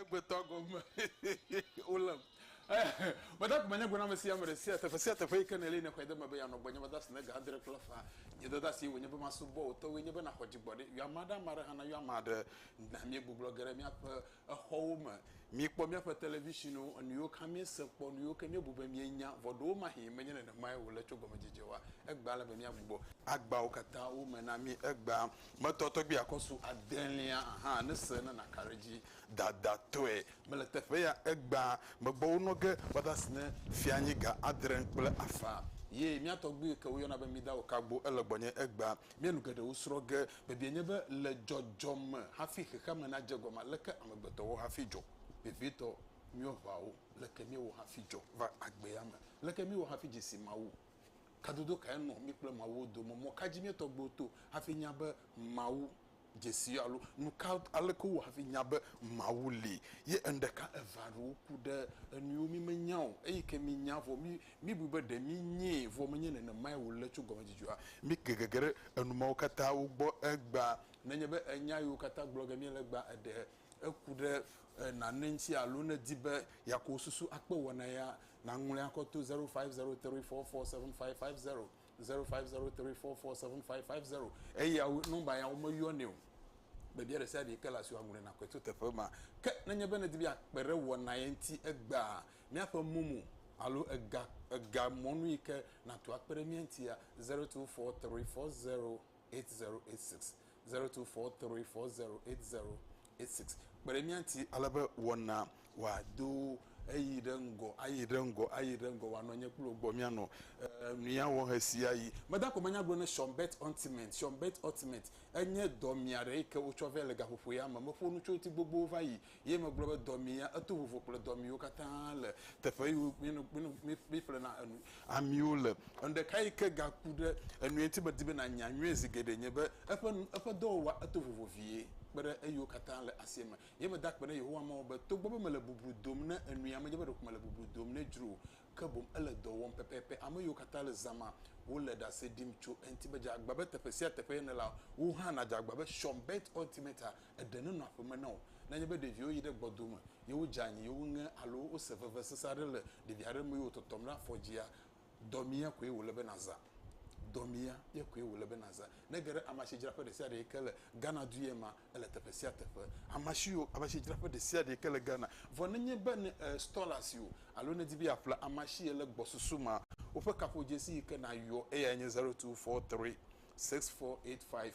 egbetɔ gome wolem meda kuma nye gona mesia me ɖe sia teƒe sia teƒe yi ke ne li ne xɔe de me be yanɔ gbɔ nye be dasi ne ga adre kple fa nye de dasi wònye be masubɔ wòtɔwoe nye be naxɔ dzigbɔɖi yɔ ame aɖe ame aɖe hã na yɔ ame aɖe na míegbublɔ ge ɖe míaƒe exɔwo me, míekpɔ míaƒe televisionwo, enuyiwo ka míese kpɔ, nuyiwo ke míebu be míenya, vɔ ɖewomahĩ menye nenemae wòle tso gɔmedzedzewoa, egbea ele be míagbugbɔ. Agbawo katã wome na mí. Egbea metɔ tɔgbi akɔ su adelia hã ne se nana ka ɖe edzi dadatɔe. Mele teƒe ya egbea megbɔ wonɔ ge va de asi ne fianyi ga adre kple afã. Ye mía tɔgbi yi ke woyɔna be Mida Okagbo ele gbɔnye egbea Mía nu geɖewo srɔ̃ ge. Biabiae nye be, le dzɔdzɔ me hafi xexeame nadze gɔme aleke amegbetɔwo hafi dzɔ? Vevietɔ, míewɔ ʋawo leke míewɔ hafi dzɔ va agbea me? Leke míewɔ hafi dze si Mawu? Kadodo kae nɔ mí kple Mawu wo dome? Mɔ ka dzi míetɔ gbewo to hafi nya be Mawu dzesi alo nuka aleke wowɔ hafi nya be Mawu li. Ye eŋɖeka eve alo woku ɖe enuiwo mi menya o eyi ke mi nya vɔ mi mi bui be ɖe mi nyee vɔ menye nenemae wole tso gɔmedzedzea mi ke gege ɖe enumawo katã wo gbɔ egbea nenye be enya yiwo katã gblɔ ge miele egbea eɖe eku ɖe nane ŋti alo ne di be yako susu akpe wɔna ya naŋlɔe akɔ to 0503447550. zero five zero three four four seven five five zero eya nɔmba ya womeyɔ ne o bebia ɖe sia ɖe ke le asi aŋlɔe na kɔe to teƒe ma ke nenye be nedi be akpe ɖe wɔna ye ŋuti egbea míaƒe momo alo ega ega mɔnu yi ke natu akpe ɖe mía ŋutia zero two four three four zero 8086 0243408086 kpe ɖe mía ŋuti ale be wɔna wòado eyi ɖe ŋgɔ ayi ɖe ŋgɔ ayi ɖe ŋgɔ wòanɔ nye kple wò gbɔ míanɔ eh, míawɔ ɣe sia ɣi. Meda ko manyagblɔ ne Sean Bert Ultimate. Sean Bert Ultimate enye dɔmia ɖe yi ke wotsɔ vɛ le gaƒoƒo ya me. Meƒo nu tso ŋuti gbogbowo va yi Ye megblɔ be, Dɔ mi ya. Eto vovo ƒle dɔ miwo katã le teƒe yiwo míeƒlena enu amiwo le. Enu ɖeka yi ke gaku ɖe enui ŋuti medi be nànya nyuie zi geɖee nye be eƒe eƒe dɔwɔwɔa eto vovo vie kpe ɖe eyiwo katã le asia me. Ye meda akpe ɖe Yehowa Mawu be togbɔ be mele bublu dom ne enuia, medze be ɖeko mele bublu dom nɛ dzro o, ke boŋ ele dɔ wɔm pɛpɛpɛ. Ame yiwo katã le zã ma, wole ɖase ɖim tso eŋuti be dze agbagba be teƒe sia teƒe nèlea, wò hã nàdze agbagba be Sean Bett Ultimate-a Eɖe nenɔ aƒe me na wò. Ne enye be ɖeviwo yi ɖe gbɔdo me ye wodze anyi ye woŋe alo wose veve sesẽ aɖe le ɖevi aɖe me ye wòtɔtɔm ɖe afɔ dzia, dɔmea koe wòle be nàzã. Dɔmea ye koe wòle be nàzã. Ne ege ɖe amasidzraƒe ɖe sia ɖe yi ke le Ghana du ye mea, ele teƒe sia teƒe. Amasiwo, amasidzraƒe ɖe sia ɖe yi ke le Ghana. Vɔ nenye be ne e store asi o alo ne èdi be yeaƒle amasi ye le gbɔsusu mea, woƒe kaƒodzesi yi ke nàyɔ eyae nye zero two four three six four eight five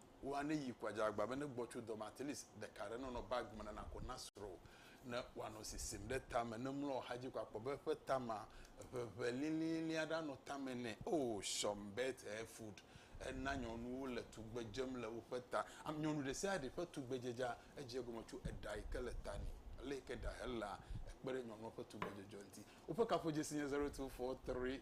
Wo a ne yi kua dza agba be ne gbɔ tso dɔme at least ɖeka ɖe nɔnɔ bag me ne na ko na srɔ wo ne wa nɔ sisim ɖe tame ne mlɔ oxa dzi ko akpɔ be eƒe tama ʋeʋe lilili aɖe anɔ tame nɛ oh some bet her food ena nyɔnuwo le tugbe dzem le woƒe ta am nyɔnu ɖe sia ɖe ƒe tugbe dzedza edze egɔme tso eɖa yi ke le ta ni ale yi ke ɖa he lea ekpe ɖe nyɔnua ƒe tugbe dzedzɔ ŋti woƒe kaƒodzesi nye 0243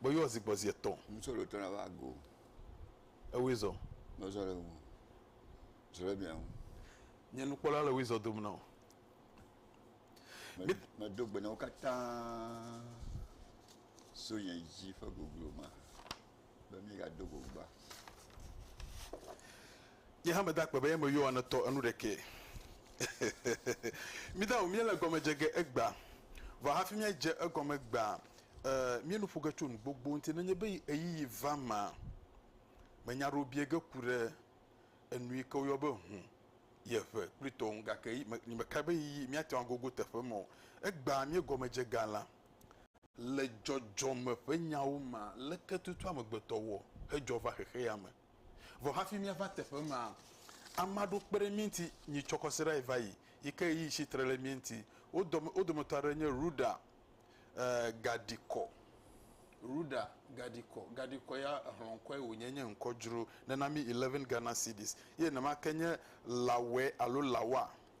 Gbɔ yɔ zi gbɔ zi etɔn. Ŋutsɔ ɖe tɔna va go. Ewoe zɔ. Nɔ zɔ ɖe ŋu. Zɔ ɖe mia ŋu. Nye nukpɔla le woe zɔ dom nɔ. Me, me do gbe nɔ wo katã so nye dzi ƒe goglo ma. be míegado go gbea? Nye hã meda akpe be eme yɔa ne tɔ enu ɖekɛ. Mída ŋu míele egɔme dze ge egbea. Vɔ hafi míadze egɔme gbea, ee, míenu ƒo ge tso nu gbogbo ŋuti. Nenye be ɣeyiɣi va emea, menya aɖewo bia ge ku ɖe enu yi ke woyɔ be hũ, yeʋe kple tɔwo ŋu gake meka be ɣeyiɣi míate ŋu agogo teƒe ma o. Egbea míegɔme dze ga la, Le dzɔdzɔme ƒe nyawo mea, leke tutu amegbetɔ wɔ hedzɔ va xexe ya me? Vɔ hafi míava teƒe maa, ame aɖewo kpe ɖe mí ŋuti nyitsɔ kɔsiɖae va yi, yi ke ɣeyiɣi tsi tre ɖe mía ŋuti. Wo dɔ, wo dometɔ aɖe nye Rhoda Gadikɔ. Rhoda Gadikɔ. Gadikɔ ya, exlɔŋkɔe wònye, nye ŋkɔ dzro. Nena mí eleven Ghana cedis. Ye nenema ke nye Lawɛ alo Lawa.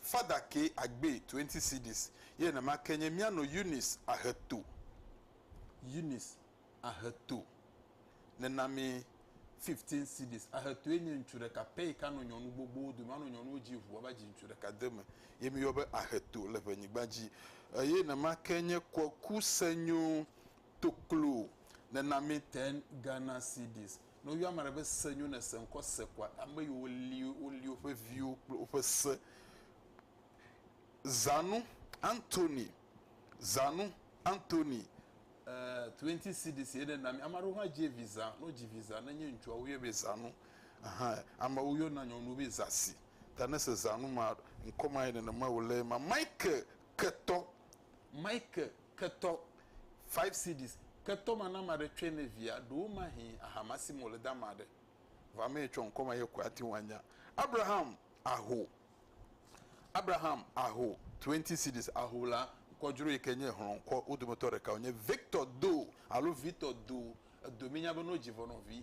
Father ke agbe twenty cedis ye nenema ke nye mía nɔ Eunice Aheto, Eunice Aheto nena mí fifteen cedis. Ahetoe nye ŋutsu ɖeka pɛ yike anɔ nyɔnu gbogbowo dome, anɔ nyɔnuwo dzi ŋu ava dzi ŋutsu ɖeka deme ye mí yɔ be Aheto le ŋe nyigba dzi. Eye nenema ke nye Kweku Senyo Toklo nena mí ten Ghana cedis. Ne woyɔ ame aɖe be se nyo ne se ŋkɔ se koa ame yiwo li woli woƒe viwo kple woƒe se. Zanu, Anthony, Zanu, Anthony. Eh, twenty cedis ye ne na mi. Ame aɖewo hã dzi vi zã. Ne wodzi vi zã, ne nye ŋutsua, woyɔe be Zanu. Aha, amewo yɔna nyɔnuwo be Zasi. Ta ne se Zanu ma, ŋkɔ ma ye nenema wòle ema. Michael, ketɔ. Michael, Ketɔ, five cedis, ketɔ ma na ame aɖe tsɔe ne via ɖo womahi ahama sim wòle de ame aɖe. Vɔ ame yi tsɔ ŋkɔ ma ye koe ate ŋu anya. Abraham, aho, Abraham, aho, twenty cedis, aho la, ŋkɔdzro yi ke nye hlɔ̃ŋkɔ wo dometɔ ɖeka wònye. Victor, do, alo Vitor, do, edo minya bene wodzi ʋɔnɔvi.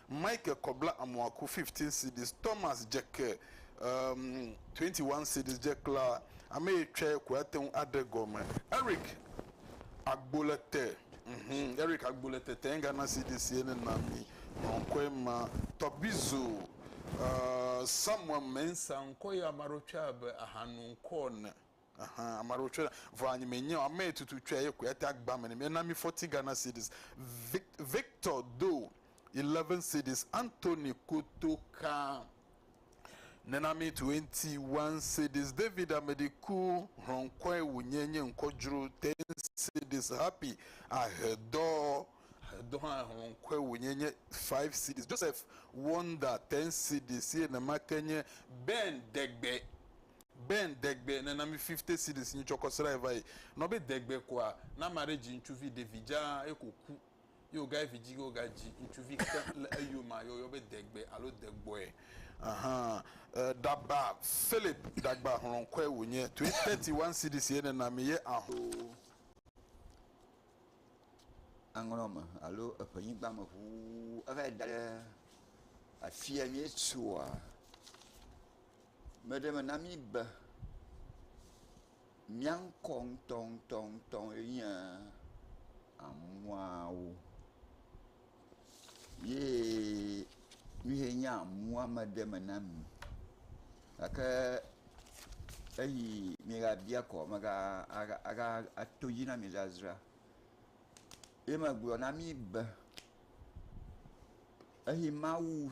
Michael kɔ bla amɔa ku 15 cedis Thomas dze ke um 21 cedis dze kla Ameye tsɔɛ ko ate ŋu aɖe gɔme Eric agbo le te mhm Eric agbo le te tɛnga na cedis ye ne na mi nɔnkɔe ma tɔgbizo uh Samuel Mensah ŋkɔ ye ame aɖewo tsɔe abe aha nu ŋkɔ ene. Ɛhɛ, ame aɖewo tsɔe ɖe. Vɔ anyi menye o, ame yi tutu tsɔe ye koe ate agba ame nɛ. Míana mí fɔti Ghana cedis. Vic, Victor do eleven cedis. Anthony Kotoka nena mí twenty one cedis. David Amediku hlɔnkɔe wònye nye ŋkɔ dzro ten cedis. Happy Ahedɔ, Ahedɔ hã hlɔnkɔe wònye nye five cedis. Joseph Wonder ten cedis ye nemake nye. Ben Degbe. Ben degbe nena mi fifte series nyi tsɔkɔ sra yi vayi nɔ be degbe koa na ame aɖe dzi ŋtsuvi ɖevi dza ye ko ku ye wogayi vidzi ge woga dzi ŋtsuvi ke le eyomea ye woyɔ be degbe alo degbɔe ahan e ɖaba Philip dagba hlɔnkɔe wonye to ye thirty one series ye nena mi ye aho aŋlɔ me alo eƒe nyigba me ʋuu evayi daɖe afia mi tsoa Meɖe me na mí be mía ŋkɔ ŋutɔŋutɔŋutɔ enye amuawo ye nu ye nye amua meɖe me na mí. Gake eyi migabia kɔ mega aga aga ato edzi na mi zazra. Ye megblɔ na mí be eyi Mawu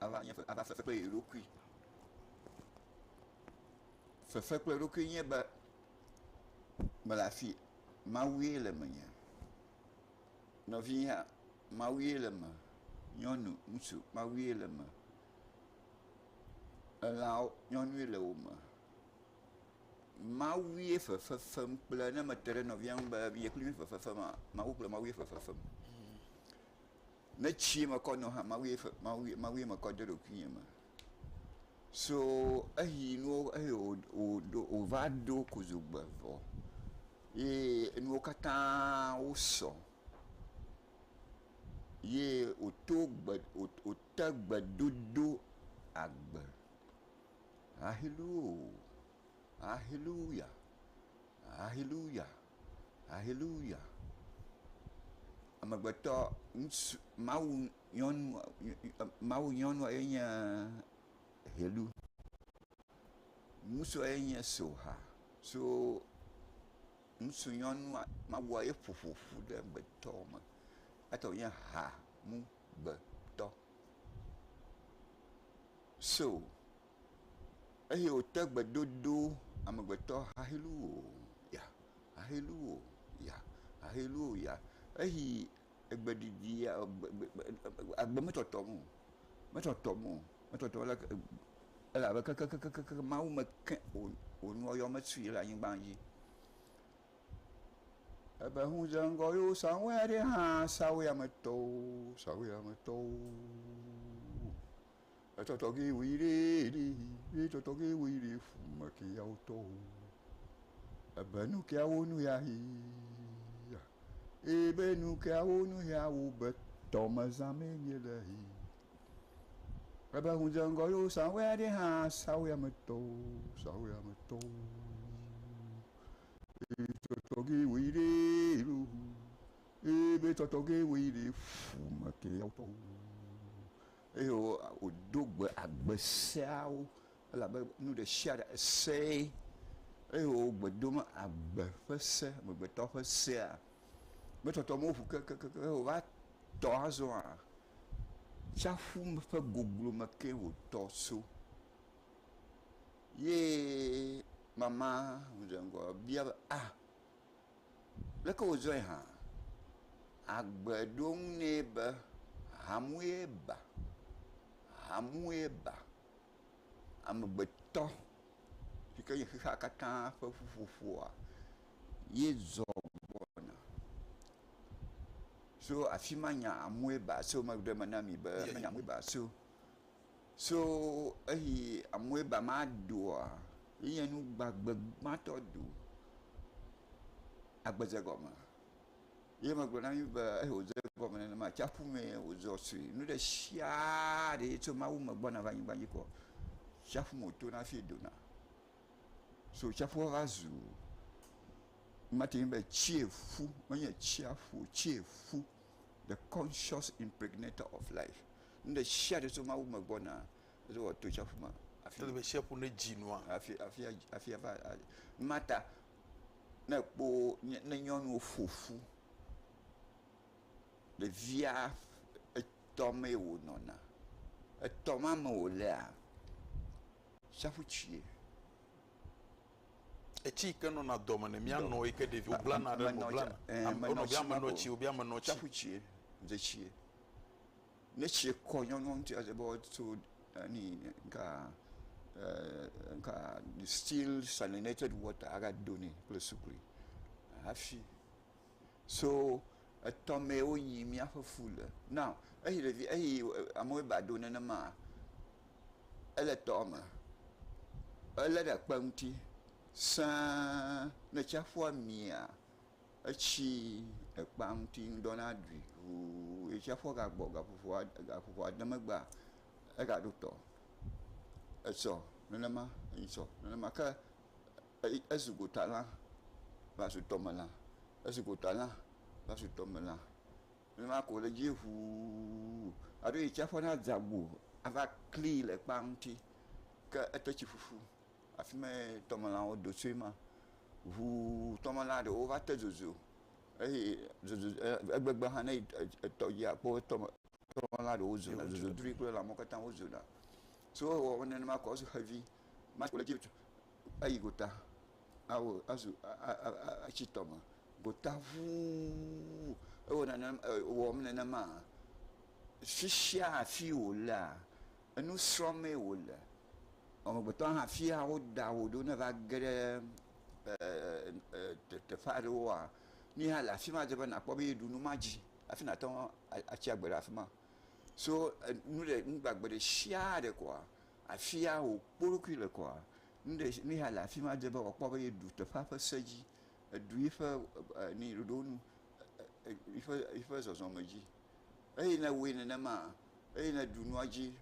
ava nye ava fefe kple ye ɖokui. Fefe kple ɖokui nye be mele afi Mawu ye le menye. Nɔvinyea Mawu ye le me, nyɔnu, ŋutsu Mawu ye le me. Elãwo nyɔnu ye le wo me. Mawu ye fefe fem kple ne mete ɖe nɔvia ŋu be ye kple mi fefe fema Mawu kple Mawu ye fefe fem. Ne tsie mekɔ nɔ hã mawue fe mawue mawue mekɔ de ɖokuinye me. So eyi nuwo eye wò wòɖo wòva ɖo kodzogbe vɔ ye enuwo katã wosɔ ye wòto gbe wòt wòte gbedodo agbe. Haleluo haleluya haleluya. Haleluya! Amegbetɔ ŋutsu, Mawu nyɔnu, Mawu nyɔnua ye nye Helu. Ŋutsua ye nye Soha. So ŋutsu nyɔnua, Mawua ye ƒo ƒo ƒu ɖe amegbetɔ me. Eya tae wònye Hanugbetɔ. So eye wòte gbe dodo amegbetɔ haleluya, haleluya, haleluya. Eyi egbe ɖiɖi ya gb gb agbe metɔtɔm o, metɔtɔm o, metɔtɔm o leke elabe kekekekekekke Mawu meke wò wò nuwo yɔ metsoe le anyigba dzi. Ebe ŋu dze ŋgɔ ye wo sa ŋuwɔe aɖe hã sa woyametɔwo sa woyametɔwo. Etɔtɔ ge woyi ɖe ɖi ye tɔtɔ ge woyi ɖe fume ke yawo tɔ o. Ebe nu ke yawo nu ya yi. Ebe nu ke yawo nu yawo be tɔmezã me nye le yi. Ebe ŋu dze ŋgɔ yo sanwó ya ɖe hã sanwó ya me tɔ o sanwó ya me tɔ o. Ye tɔtɔ ge woyi ɖe ɖo. Ebe tɔtɔ ge woyi ɖe fume ke yawo tɔ o. Eye wòdo gbe agbe seawo, elabe nu ɖe sia ɖe esee, eye wògbe dom agbe ƒe se, amegbetɔ ƒe sea. Gbetɔtɔ mewo ŋu kekeake o, wova tɔ azɔa, tsaƒu ƒe goglo me ke wòtɔ tso. Ye mama ŋu dze ŋgɔ bia be, Ah! Leke wòzɔe hã? Agbe ɖo eŋu nɛ be, Hamue ba, hamue ba. Amegbetɔ yi ke nye xexea katã ƒe ƒuƒoƒoa ye zɔ gbɔna. Tso afi ma nya “hamue ba” so megbe ɖe eme na mi be, hamue ba so. So eyi amue ba ma doa yeye nu gbagbe gbãtɔ do agbedze gɔme. Ye megblɔ na mi be eyi wòdze gɔme nenema atsiaƒu mee wòzɔ sri. Nu ɖe sia ɖe yi tso Mawu me gbɔna va anyigba dzi kɔ, tsiaƒu me wòtona hafi dona. So tsiaƒua va zu, mate ŋu be tsieƒu, menye tsiaƒu o, tsieƒu. The conscious impregnator of life. Nu ɖe sia ɖe tso Mawu me gbɔna, eye wòato tsiaƒu me. Afi ele be tsia ƒu ne dzi nua. Afi afi afi ava. Mata ne ekpo ne nyɔnuwo ƒo ƒu. Ɖevia etɔ mee wònɔna. Etɔ ma me wòlea, tsiaƒu tsie. Etsi yi ke nɔna dɔ me ne mianɔ yi ke ɖevi woblana ɖe eme blana. Wonɔ be ame nɔ tsi wobe ame nɔ tsi. Tsaƒu tsie, dze tsie. Ne tsie kɔ nyɔnua ŋuti adze be woato ani nka nka still salinated water aga do nɛ kple sukli hafi. So etɔ mee wonyi míaƒe fu le. Now, eyi ɖevi, eyi amewo ba do nenema, ele tɔ me, ele ɖe kpe ŋuti sãa, ne tsiaƒua mia, etsi ekpea ŋuti ŋdɔna ɖui ʋuu ye tsiaƒua gagbɔ gaƒoƒoa, gaƒoƒoa de megbea, egaɖo tɔ. Etsɔ nenema, etsɔ nenema. Ke Eye ezu gotalã va zu tɔmelã, ezu gotalã va zu tɔmelã. Nenema ko wòle edzi ŋuu aɖo yi tsiaƒua nadze agbo ava klii le kpea ŋuti. Ke ete tsi ƒuƒu, afi mae tɔmelãwo do tsoe ma. Ŋuu tɔmelã ɖewo va te zozo eye zozo egbegbe hã ne etɔ dzi akpɔ tɔme tɔmelã ɖewo zona zozodroe kple lãmewo katã wozona. So ewɔ nenema kɔ zu xevi. eyi gota awɔ azu a a a a atsi tɔme gota ŋuu ewɔ nane e ewɔm nenema. Fi sia fi wo lea enu srɔ̃mee wo le. Amegbetɔ hã fi ya woda wo ɖo ne va ge ɖe e e e teƒe aɖewoa nu ya le afi ma dze be nakpɔ be yeɖu nu ma dzi hafi nate ŋu atsi agbe ɖe afi ma. So e nu ɖe nugbagbe ɖe sia ɖe koa. afia wòkpɔ eɖokui le kɔa, nu ɖe si, nu ya le afi ma edze be wòakpɔ be yeɖu teƒea ƒe se dzi, eɖu yiƒe ni ɖoɖo nu, yiƒe yiƒe zɔzɔme dzi. Eye ne ewɔe nenema, eye ne eɖu nua dzi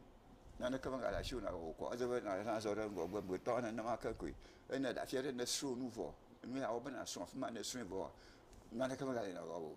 naneke megale asiwò nàwɔ o kɔa, edze be nàzɔ ɖe ŋgɔgbe gbetɔ nenema ke koe. Eye ne èɖe afia ɖe, ne èsrɔ̃ nu vɔ, nu ya wɔ be nàsrɔ̃ afi ma, ne èsrɔ̃e vɔa, naneke megale nɔ wɔ o.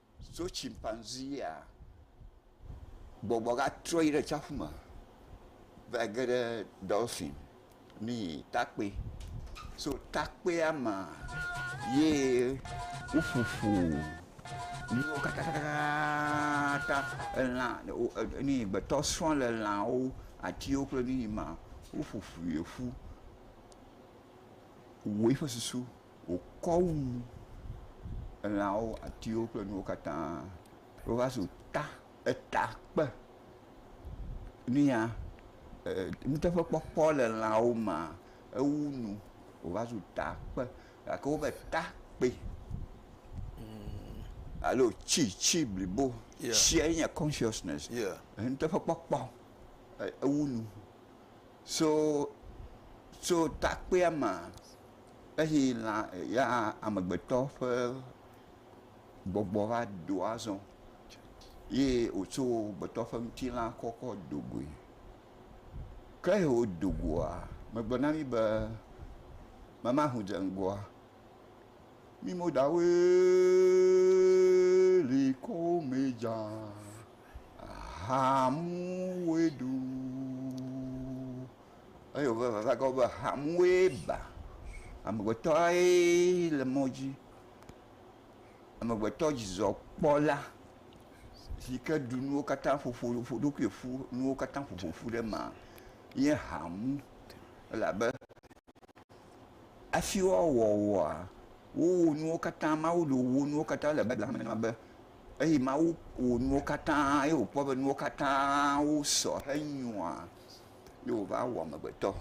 Tso tsimpanziea, gbɔgbɔ gatrɔ yi ɖe tsiaƒu me va yi ge ɖe ɖɔlfin mi takpoe. So takpoea me ye woƒo ƒu nuwo katãtãtãtãtã. Elã wo e ni gbetɔ srɔ̃ le lãwo, atiwo kple nu yi ma. Woƒo ƒui ƒu wɔ eƒe susu. wòkɔ wu elãwo, atiwo kple nuwo katã. Wova zu ta, eta kpe nu ya ee nuteƒekpɔkpɔ le lãwo mea, ewu nu wòva zu ta kpe gake wobe ta kpe alo tsi, tsi blibo. Tsia ye nye kɔnshiɔsnɛsi, nuteƒekpɔkpɔ. Ewu nu so so ta kpea mea. Eyi lã ya amegbetɔ ƒe gbɔgbɔ va do azɔ ye wòtso gbetɔ ƒe ŋutilã kɔ kɔ do goe. Ke yi wodo goa, megblɔ na mí be memaho dze ŋgɔa, mí Modawoe li ko mɛ dza, ahamuwoe ɖu. Eye wòva va va gawɔ be hamue ba. Amegbetɔe le mɔ dzi. Amegbetɔ dzidzɔkpɔla si ke ɖu nuwo katã ƒo ƒu ƒo eɖokui ƒu nuwo katã ƒo ƒo ƒu ɖe eme nye hamu. Elabe hafi woawɔ wòa, wowo nuwo katã, Mawu ɖo wowo nuwo katã le Biblia me na be eye Mawu wɔ nuwo katã eye wòkpɔ be nuwo katã wosɔ henyoa. ye wova wɔ amegbetɔ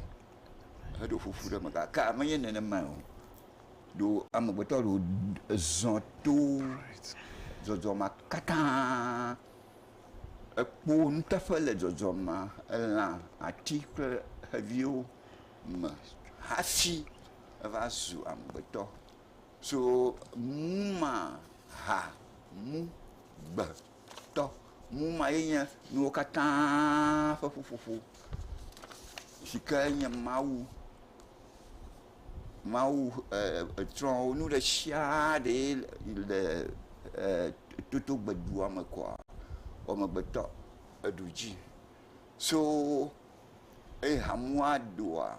heɖo ƒoƒu ɖe eme gake menye nenema o. Ɖo amegbetɔ ɖewo zɔ to zɔzɔ ma katã ekpɔ nuteƒe le zɔzɔ ma elã, ati kple xeviwo me hafi eva zu amegbetɔ. So nu ma ha, mu, gbe. tɔ. Nu ma ye nye nuwo katã ƒe ƒuƒoƒo si ke nye Mawu, Mawu e tsrɔ̃ wo nu ɖe sia ɖe le e toto gbe dua me koa amegbetɔ eɖu dzi so eye hamea ɖua.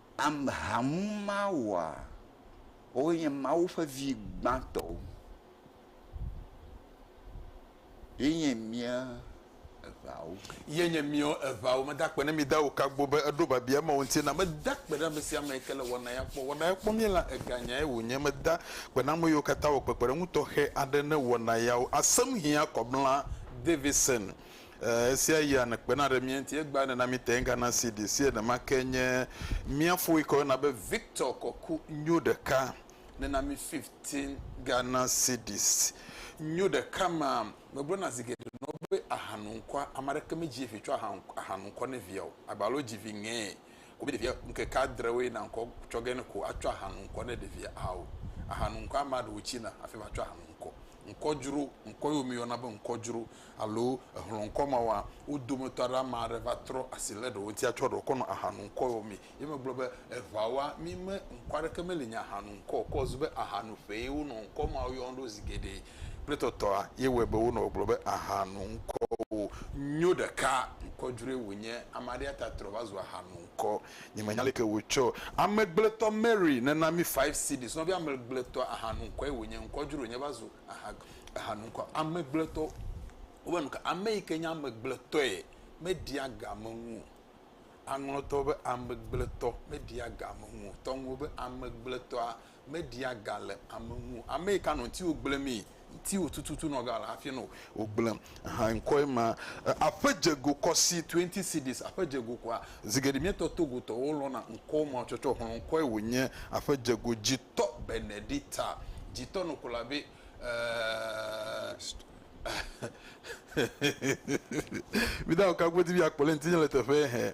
Am hamu ma wɔa, woe nye Mawu ƒe vi gbãtɔwo. Ye nye mía eŋawo. Ye nye mía eŋawo. Meda akpe na mi da wò kagbo be èɖo biabia mawo ŋuti nam. Meda akpe na ame sia ame yi ke le wɔna ya kpɔ. Wɔna ya kpɔ mí la eganyae wònye. Meda akpe na ame yiwo katã wɔ kpekpeɖeŋu tɔxɛ aɖe ne wɔna yawo. Asem hiã kɔ mla Davison. Esia yia ne kpena ɖe mía ŋuti. Egbea nena mí te ŋgã na CD. Sie nema ke nye mía fo yike woyɔna be Victor kɔku nyo ɖeka nena mí fifteen Ghana cedis. Nyo ɖeka ma, megblɔna zi geɖe nɔ be ahanu ŋkɔa. Ame aɖeke medzi vi tsɔ aha ahanu ŋkɔ ne via o. Agba alo dzi vi ŋɛ ko be ɖevia ŋkeke adre woe na ŋkɔ tsɔ ge ne ko atsɔ ahanu ŋkɔ ne ɖevia ao. Ahanu ŋkɔ amea ɖewo tsina hafi va tsɔ ahanu ŋkɔ. Ŋkɔdzro, ŋkɔ yio mi yɔna be ŋkɔdzro. alo ehlɔ̃ ŋkɔ ma wɔa, wo dometɔ aɖe ame aɖe va trɔ asi lé ɖewo ŋuti atsɔ ɖewo kɔ nɔ aha nom kɔɔ, mi ye megblɔ be eŋa wa mi me ŋkɔ aɖeke meli nye aha nom kɔ o, ke wòzu be aha no ƒee ye wonɔ ŋkɔ mawo yɔm ɖo zi geɖe kple tɔtɔa ye wɔe be wonɔ gbɔgblɔm be aha no ŋkɔwo nyo ɖeka ŋkɔ dzroe wònye. Ame aɖee ya ta trɔ va zu aha no ŋkɔ. Nyemenya leke wòtsɔ amegbletɔ Mary nena mi five cedis, nɔvia amegbletɔ aha no ŋkɔe wònye, ŋkɔ dzroe wònye va zu Aha, aha nu ŋkɔ amegblẽtɔ. Wobe nu ka? Ame yi ke nye amegblẽtɔe meɖia ga ame ŋu o. Aŋlɔtɔ be amegblẽtɔ meɖia ga ame ŋu o. Tɔŋuwo be amegblẽtɔa meɖia ga le ame ŋu o. Ame yi ka nɔ ŋutiwò gblẽmee, ŋutiwò tututu nɔ ga le hafi nɔ wò gblẽm. Aha ŋkɔe ma. Aƒe dze go kɔ si, twenty cedis, aƒe dze go kɔa. Zi geɖe míetɔ Togo tɔwo lɔna ŋkɔwo ma tsɔtsɔ xlɔ ŋkɔe wònye aƒe dze go. Dzitɔ Benedita dzitɔ no kola be eh. Míde ŋu ka godzi míakpɔ le ŋutinye le teƒe he.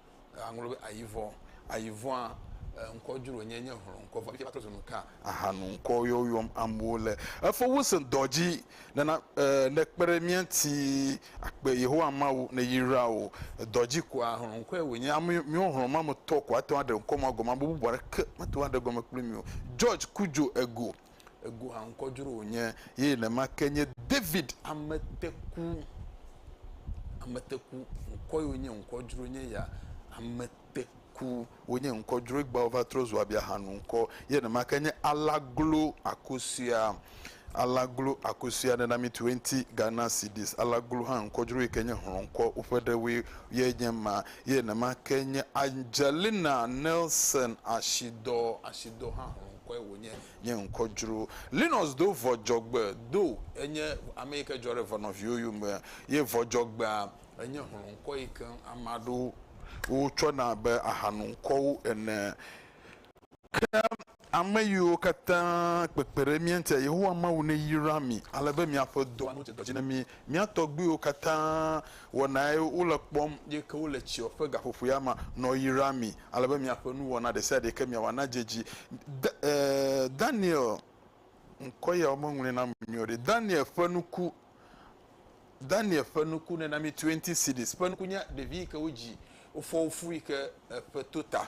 Aŋlɔ be ayivɔ. Ayivɔa ŋkɔ dzro nye nye hlɔ ŋkɔ vɔ. Eƒe zɔnu ka ahanu ŋkɔ yɔ yɔm amewo le efo wusin dɔ dzi nena ne kpe ɖe mía ŋuti akpe Yehowa Mawu ne yra wo dɔ dzi koa hlɔ ŋkɔe wo nye ame miwo hlɔ ma me tɔ ko ate ŋu aɖe ŋkɔ ma gɔme ame bubu aɖeke mate ŋu aɖe gɔme kpli mi o George Kudjo Ego. Ego haŋkɔ dzro wònye ye nenema ke nye David ameteku. Ameteku ŋkɔ yiwo nye ŋkɔ dzro nye ya. Ameteku wonye ŋkɔ dzro egba wova trɔ zu abiahanu ŋkɔ ye nenema ke nye Alaglo Akosua. Alaglo Akosua nena mi 20 Ghana cedis. Alaglo hã ŋkɔ dzro yi ke nye hlɔ̃kɔ woƒe ɖewoe ye nye ma ye nenema ke nye Angelina Nelson Ashidɔ. Ashidɔ hã hlɔ̃. kɔe wònye. Nye ŋkɔ dzro. Linus do vɔ dzɔgbe. Do enye ame yi ke dzɔ ɖe vɔ nɔviwo yome. Ye vɔ dzɔgbea enye hlɔ̃ŋkɔ yi ke ame aɖewo tsɔ na abe ahanoŋkɔwo ene. Ke ame yiwo katã kpekpe ɖe mía ŋutia, Yehowa Mawu neyra mi ale be miaƒe dɔa nadze dɔ dzi na mi Mía tɔgbuiwo katã wɔna ye wole kpɔm. Ye ke wole tsia ƒe gaƒoƒoea me nɔ yram mi, ale be miaƒe nuwɔna ɖe sia ɖe ke miawɔ nadze edzi. Da, e, Daniel, ŋkɔ ya womeŋlɔe na ame nyuie o ɖe. Daniel ƒe nuku, Daniel ƒe nuku, nena mi twenty cedis ƒe nuku nye ɖevi yi ke wodzi, wofɔ wo fu yi ke eƒe to ta.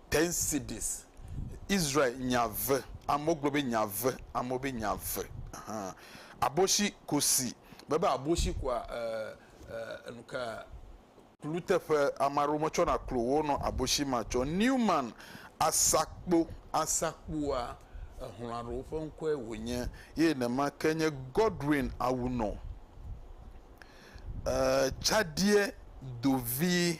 Ten cities. Israel nya ve. Amewo gblɔ be nya ve. Amewo be nya ve. Ahan. Aboshi kusi. Mebe aboshi kua ɛɛ ɛɛ enuka kluteƒe. Ame aɖewo metsɔna klo wo nɔ aboshi ma tsɔ. Newman asakpo. Asakpoa ehlɔ̃ aɖewo ƒe ŋkɔe wònye. Ye nema ke nye Godwin Awunor. Ɛɛ Tsadie Dovi.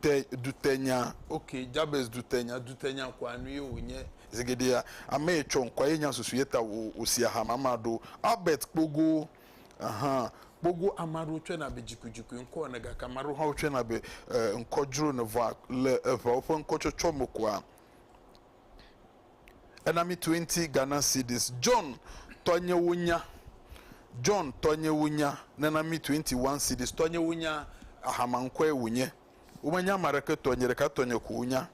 te, dutenya. Ok, Jabez dutenya, dutenya koa nue wònye. Zegeɖea, ame ye tsɔ ŋkɔa ye nya susu ye ta wò, wòsi aha mama ɖo. Albert Kpogo, Ɛhɛ, Kpogo, ame aɖewo tsɔena be dzikuidzikui ŋkɔ ene gake ame aɖewo hã wotsɔena be, e, ŋkɔ dzro ene vɔa le eŋeawo ƒe ŋkɔtsɔtsɔ me koa, Enami Twenty Ghana Cedis John tɔnyewo nya John tɔnyewo nya Nenami Twenty One Cedis Tɔnyewo nya Ahama ŋkɔe wònye Womenya ame aɖeke tɔ Nye ɖeka tɔnye ko wonya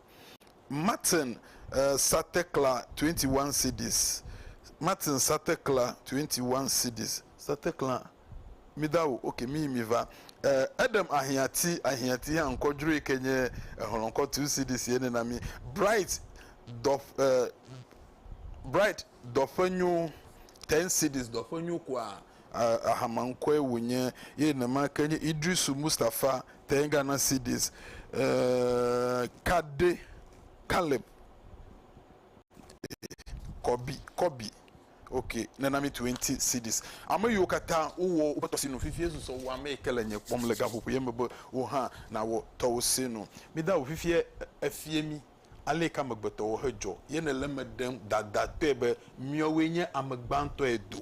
Martin eh, Satekla Twenty One Cedis Martin Satekla Twenty One Cedis Satekla Mida o, ok, miyi miva. E, eɖem ahiãti, ahiãti hã ŋkɔ dzroe ke nye ehlɔ̃kɔ tu CD sie nɛ na mi. Bright dɔ, e, Bright dɔ ƒe nyo, ten CDs dɔ ƒe nyo kua. E, ahama ŋkɔe wònye, ye nema ke nye Idrisu Mustafa ten Ghana CDs. E, Kade, Caleb, e, Kɔbi, Kɔbi, Ok, nena mi twenty cedis. Ame yiwo katã wowɔ woƒe tɔsinu fifie susɔ wɔ ame yike le nye kpɔm le gaƒoƒo ye me be wò hã nawɔ tɔwò sinu. Mi da wu fifie efie mi aleyike amegbetɔwo he dzɔ ye nele eme ɖem dadatɔe be miɔwoe nye ame gbãtɔe do.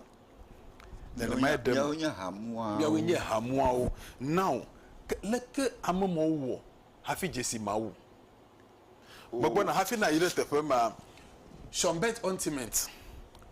Nenemae ɖem. Miawoe nye hamuawo. Miawoe nye hamuawo. Now, ke leke ame mawo wɔ hafi dzesi Mawu? Megbɔna hafi nàyi ɖe teƒe ma. Schönberg Ointment,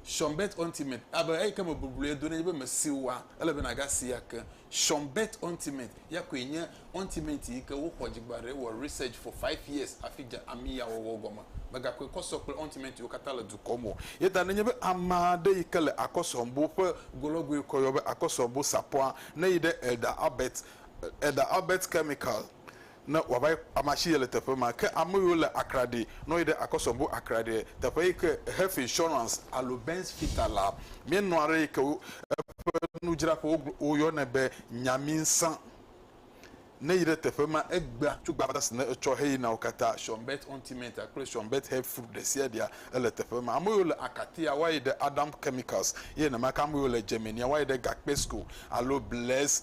Schönberg Ointment, abe eyi ke me bubluie do nenye be mèsi oa, ele be nàgasi ake. Schönberg Ointment ya koe nye ointment yi ke woxɔ dzi gba ɖe, wɔ research for five years hafi dze ami ya wɔwɔ gɔme. Mègakɔe kɔ sɔ kple ointmentwo katã le dukɔ me o. Eya ta nenye be ame aɖe yi ke le akɔsɔbo ƒe go lɔ goe kɔ yɔ be akɔsɔbo sapɔa, ne yi ɖe Elder Albert, Elder Albert Chemical, ne wòava yi ama tsi yele teƒe ma. Ke ame yiwo le Accra ɖi, ne woyi ɖe Akosombo Accra ɖi, teƒe yi ke Health Insurance alo Benz Fita la, míenɔa aɖe yi ke wo, eƒe nudzraƒe wogl, woyɔnɛ be Nyaminsã. Ne eyi ɖe teƒe ma, egbea tso gbadza si ne etsɔ heyina wo katã, Shonbet Ontimenta kple Shonbet Health Food ɖesiaɖea, ele teƒe ma. Ame yiwo le Akatia, woayi ɖe Adam Chemicals, eye nenema ke ame yiwo le Germania, woayi ɖe Gakpesco alo Bless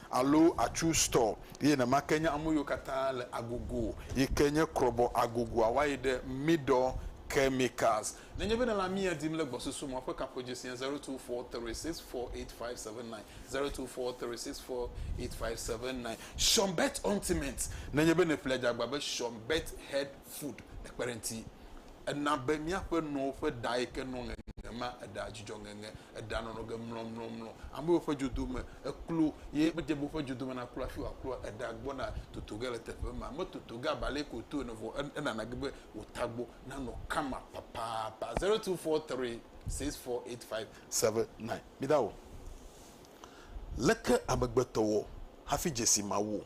Alo atsu stɔ ye nema ke nye ameyiwo katã le agogo yi ke nye krɔbɔ agogoa wayi ɖe midɔ chemicals. Nenye be nèle amia dim le gbɔsusu me ƒe kaƒodzesia zero two four three six four eight five seven nine zero two four three six four eight five seven nine. Sean Bet Ointment, Nenye be nèƒle adzagba be Sean Bet Head Food ekpe ɖe ŋuti. Ena be míaƒe nɔwo ƒe ɖa yi ke nɔ ŋeŋe ma, eɖa dzudzɔ ŋeŋe, eɖa nɔnɔ ge mlɔmlɔmlɔ. Amewo ƒe dzodo me, eklo ye medze be woƒe dzodo me naklo hafi wòakloa, eɖa gbɔna toto ge le teƒe ma. Metoto ge abe ale yi ke wòto ene vɔ enana ge be wò tagbɔ nanɔ kama papapa. Zero two four three six four eight five seven nine. Midawɔ o. Leke amegbetɔ wɔ hafi dze si Mawu o?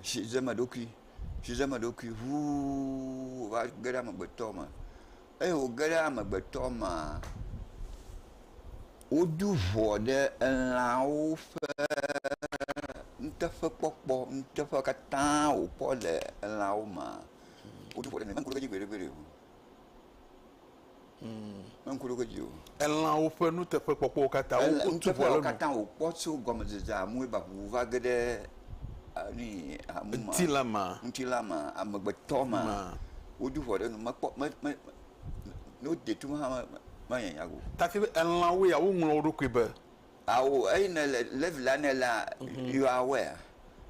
asi dzem eɖokui, asi dzem eɖokui ŋuu va ge ɖe amegbetɔ me. Eye wòge ɖe amegbetɔ mea, wodo ŋɔ ɖe elãwo ƒe nuteƒekpɔkpɔ, nuteƒe katã wòkpɔ le elãwo mea, wodo ŋɔ ɖe eme, menye ŋku ɖodzi gbeɖegbeɖe o. Meŋku ɖe wo dzi o. Elãwo ƒe nuteƒekpɔkpɔwo katã, woku tu vɔ le enu. Wòkpɔ tso gɔmedzedzea mue ba ʋuʋu va ge ɖe nui hamu ma. Ŋutilã ma. Ŋutilã ma, amegbetɔ ma. Ma. Wodu vɔ ɖe enu. Mekpɔ, me, me, ne wode tum hã, me, me, manya nya o. Take be elãwo ya, woŋlɔ wo ɖokui be. Ao eyi ne le levi la ne la mhm. you are aware.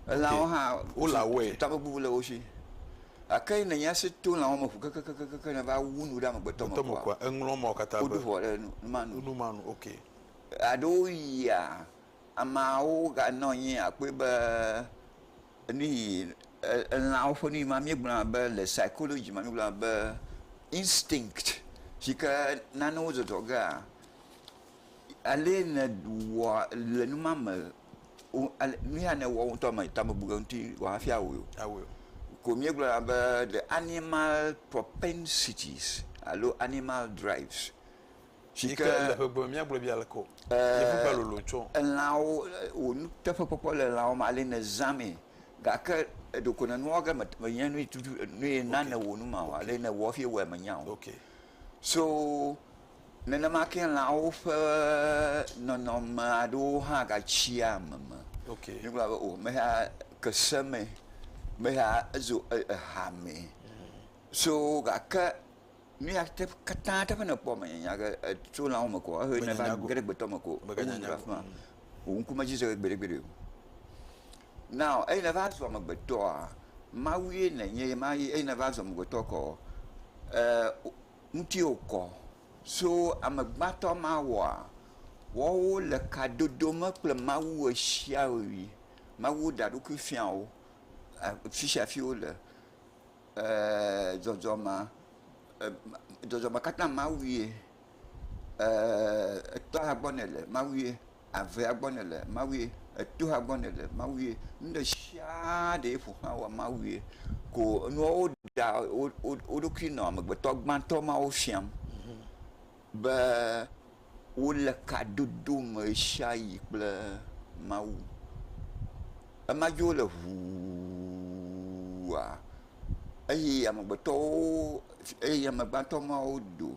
Elãwo hã wo le aware. Takpekpe le wo si. Ake ne nya se to lãwo me ƒu kekekekeke ne va wu nu ɖe amegbetɔ me kɔa. Eŋlɔ ma katã be. Woɖu vɔ ɖe numanu. Numanu ok. Aɖewo yia ameawo ganɔ anyi akpɔe be nuyi elãwo ƒe nuyi ma míegblɔna be le psychology ma míegblɔna be instinct si ke nanewo zɔzɔ gea. Alɛ nèwɔ le nu ma me o, ale nu ya nèwɔ wò ŋutɔ me ta mebuna eŋuti o hafi awɔe o. Awɔe o. Ko míegblɔna be the animal propensities alo animal drives. Si Yi ke ke le ƒegbe me míagblɔe be aleke o. Yevu ƒe lolo tsɔ. elãwo wò nuteƒekpɔkpɔ le elãwo me alɛ nèzã mee gake ɖeko nènua ge me menye nu yi tutu nu yi na nèwɔ nu ma o. Alɛ nèwɔ hafi ewɔe menya o. Ok. So Nenema ke lãwo ƒe nɔnɔme aɖewo hã gatsi ame me. Ok. Míegblɔna be o meya ke se me, meya ezo eha me. So gake nu ya te katã teƒe nèkpɔ mènyanya ge tso lãwo me ko ehe nèva ge ɖe gbetɔ me ko mèganyanya go. Wò ŋku medzi ze gbeɖegbeɖe o. Now eyi nèva zu amegbetɔa, Mawue nènye ye ma ye eyi nèva zu amegbetɔ kɔɔ, e. ŋuti wòkɔ so amegbãtɔ ma wɔa? Woawo le ka dodo me kple Mawu ɣesiaɣi. Mawu ɖea eɖokui fia wo fisiafi wole. Dzɔdzɔmea, dzɔdzɔme katã Mawue. Etɔa gbɔ nèle, Mawue. avea gbɔ nèle Mawue, etoa gbɔ nèle Mawue, nuɖesiaa ɖee ƒo xlã wòa Mawue. Ko nua woɖea woɖokui nɔ amegbetɔ gbãtɔ mawo fiam be wole kadodo me ɣesiaɣi kple Mawu. Ema dzi wole ʋuuua eye amegbetɔwo eye amegbãtɔ mawo do.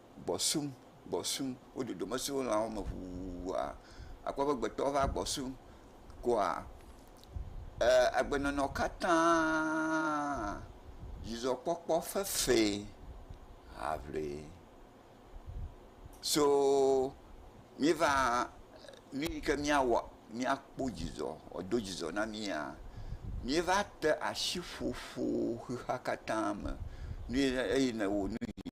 gbɔsum, gbɔsum, wo dodo me sɔ̃ lãwo me ŋuŋuŋua, àkpɔ be gbetɔwo va gbɔsum koa, ee agbenɔnɔ katã dzidzɔkpɔkpɔ fefee aŋlee. So míeva, nu yi ke míawɔ míakpɔ dzidzɔ, wòado dzidzɔ na mía, míeva te asi ƒoƒo xexea katã me, nu yi ne, eyi ne wò nu yi.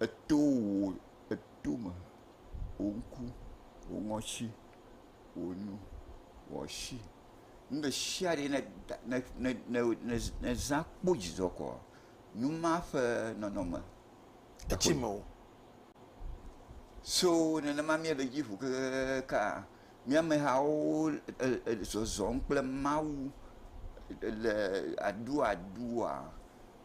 Eto wò etome, wò ŋku, wò ŋɔtsi, wò nu, wò asi. Nu ɖe sia ɖe ne da ne ne ne ne ne zã kpɔ dzidzɔ koa nu ma ƒe nɔnɔme etsi me o. So nenema mía le edzi ŋu kekekekaa mía amehawo e e zɔzɔm kple Mawu le aduadua.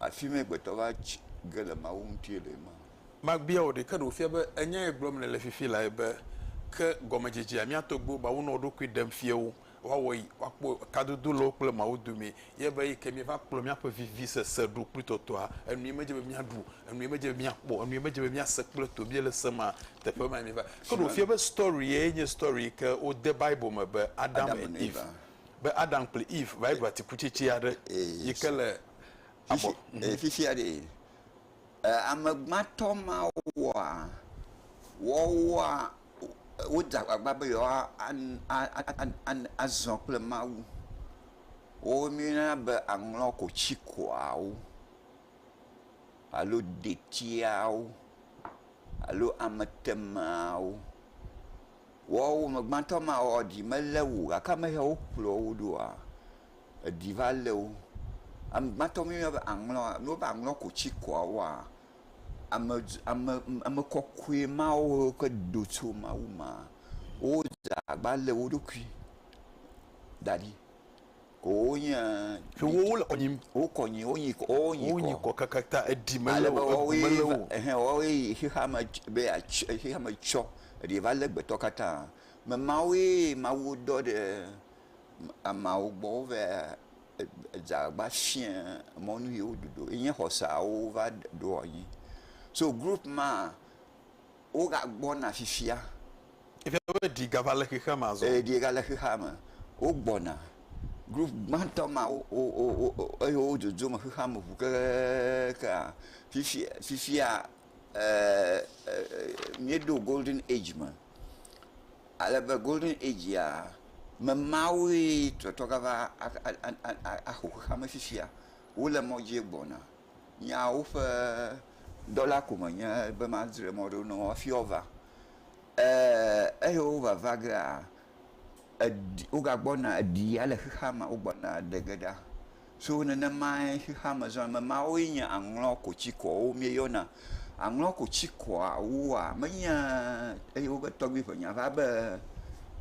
Afi mae gbetɔ va tsi ge le Mawu ŋuti le ema. Mabia wò ɖe, ke ɖe wòfia be enyae gblɔm nèle fifi lae be, Ke gɔmedzedzea mía tɔgbuiwo ba wonɔ wo ɖokui ɖem fiawo, woawɔ yi, woakpɔ kadodo le wo kple Mawu dome, ye be yi ke míeva kplɔ míaƒe vivisese ɖo kple tɔtɔa, enue medze be míaɖu, enue medze be míakpɔ, enue medze be míase kple to míele se ma, teƒe mae míeva. Ke ɖe wòfia be story yae nye story yi ke wode Bible me be Adam and Eve, be Adam kple Eve va yi ɖu atikutsetse aɖe yi ke le. abɔ. Fifi, fifia ɖe, ame gbãtɔ mawo wɔa, wɔwɔa, wodze agbagba be yewoa azɔ kple Mawu. Wo mi yɔna be aŋlɔ kotsikoawo alo detiawo alo ametemeawo. Wɔwɔ, ame gbãtɔ ma wɔwɔ dzi mele wu o gake ame ya wo kplɔ wo ɖoa, Eɖi va lé wo. Ame gbãtɔ mí yɔna be aŋlɔ. Ne wova ŋlɔ ko tsi kɔa woa, ame dz, ame, ame kɔkɔe ma wo ke do tso Mawu me. Wodze agbagba lé wo ɖokui da ɖi. Ko wonye. Tso wo, wole kɔ nyim. Wokɔ nyi, wonyi kɔ, wonyi kɔ. Wonyi kɔ kakata, eɖi melé wo, egu melé wo o. Ɛhɛn, woawoe yi xexea me tss be yeats, xexea me tsɔ. Eɖi va lé gbetɔ katã. Ame mawoe Mawu dɔ ɖe Ameawo gbɔ wova edza va fia mɔ nu yi woɖu ɖo ye nye xɔ sia wova ɖo anyi. So group ma woga gbɔna fifia. Efia be eɖi gava le xexea me azɔ. Eɖi gale xexea me. Wogbɔna. Group gbãtɔ ma wo wo wo eye wo dzodzom xexea me ŋu kekekekeaa fifi fifia míeɖo golden age me ale be golden age ya me mawoe trɔtrɔ gava aƒo xexea me fifia. Wole mɔ dzie gbɔna. Nyawo ƒe dɔla ko menye be madzre mɔ ɖo na wo hafi woava o. Eye wova va gea eɖi, wogagbɔna eɖi ya le xexeame wogbɔna eɖe ge ɖa. So nenemae xexeame zɔna. Ame mawoe nye aŋlɔkotsikuawo míeyɔna. Aŋlɔkotsikuawoa, menye eye woƒe tɔgbui ŋe nya va be